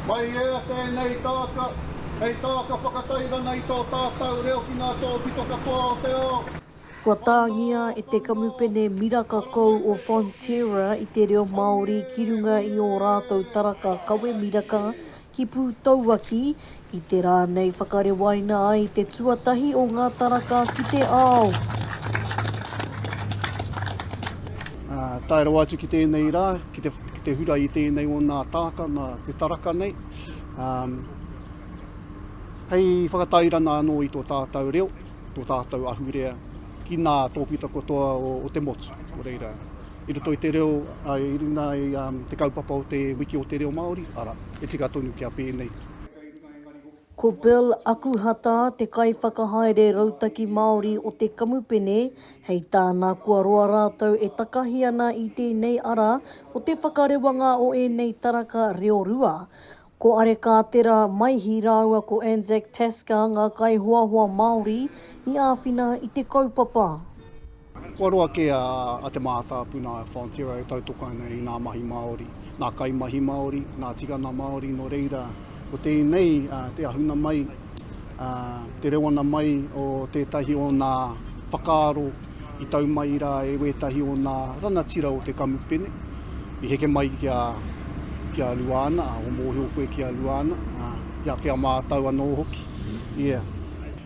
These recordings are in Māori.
Mai ea tēnei taaka, hei taaka whakatairanga i tō tātau reo ki ngā tōpito katoa o te ao. Kua tāngia e te kamupene miraka kou o Fonterra i te reo Māori ki runga i ō rātou taraka kawe miraka ki Pūtauaki, I te rā nei whakarewaina ai te tuatahi o ngā taraka ki te ao. Ā, tae rawa atu ki tēnei rā, ki te, ki te hura i tēnei o nā tāka, nā te taraka nei, ā, hei whakatairanga anō i tō tātau reo, tō tātau ahurea, ki nā tōpita katoa o, o te motu. Nō reira, i roto i te reo, ā, i runga i, ā, te kaupapa o te Wiki o te Reo Māori, arā, e tika tonu kia pēnei. Ko Bill Akuhata te kaiwhakahaere rautaki Māori o te kamupene, hei tāna kua roa rātou e takahi ana i tēnei ara o te whakarewanga o ēnei taraka reo rua. Ko Arekātera Maihi rāua ko Anzac Tasker ngā kaihoahoa Māori i āwhina i te kaupapa. Kua roa kē a Te Mātāpuna Fonterra e tautoko ana i ngā mahi Māori, ngā kaimahi Māori, ngā tikanga Māori, nō reira, ko tēnei te ahunga mai, te rewanga mai o tētahi o ngā whakaaro i tau mai rā e wētahi o ngā rangatira o te kamupene, i heke mai ki a, ki a Luana, o mōhio koe ki a Luana, ki a mātau anō hoki, yeah.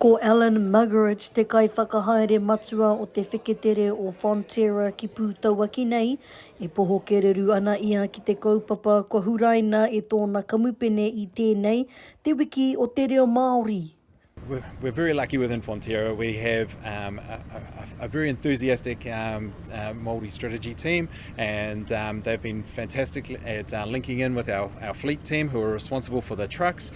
Ko Alan Muggeridge te kaiwhakahaere matua o te wheketere o Fonterra ki Pūtauaki nei, e poho kererū ana ia ki te kaupapa kua huraina e tōna kamupene i tēnei, Te Wiki o te Reo Māori. We're very lucky within Fonterra, we have a very enthusiastic Māori strategy team and they've been fantastic at linking in with our fleet team who are responsible for the trucks.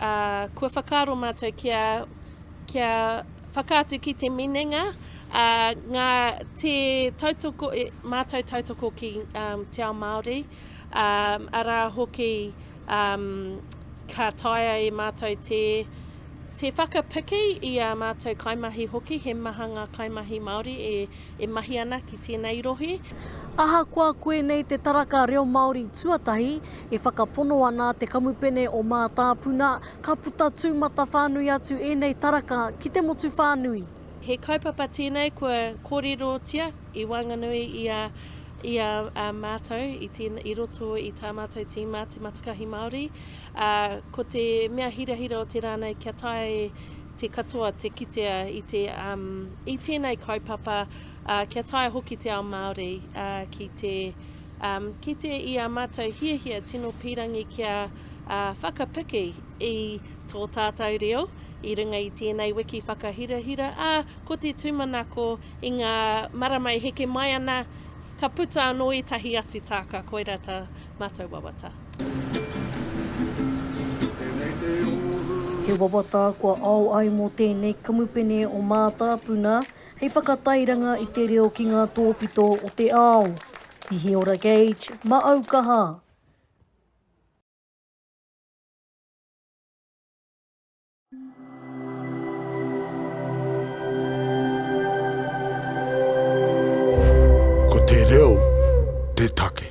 ā, kua whakaaro mātou kia, kia whakaatu ki te minenga, ā, ngā, te tautoko, mātou tautoko ki um, te ao Māori, um, arā hoki um, ka taea e mātou te, te whakapiki i a mātou kaimahi hoki, he maha ngā kaimahi Māori e e mahi ana ki tēnei rohe. Ahakoa koinei te taraka reo Māori tuatahi e whakapono ana te Kamupene o Mātāpuna, ka puta tūmata whānui atu ēnei taraka ki te motu whānui. He kaupapa tēnei kua kōrerotia i waenganui i a mātou i roto i tā mātou tīma Te Matakahi Māori, ā, ko te mea hirahira o te rā nei kia tae te katoa te kitea i te i tēnei kaupapa kia taea hoki te ao Māori ki te kite i a mātou hiahia tino pīrangi kia whakapiki i tō tātou reo i runga i tēnei wiki whakahirahira, ā, ko te tūmanako i ngā marama e heke mai ana ka puta anō ētahi atu tāka koirā tā mātou wawata. He wawata kua ao ai mō tēnei kamupene o Mātāpuna hei whakatairanga i te reo ki ngā tōpito o te ao. Hihiora Gage, Maaukaha. Ko te reo te take.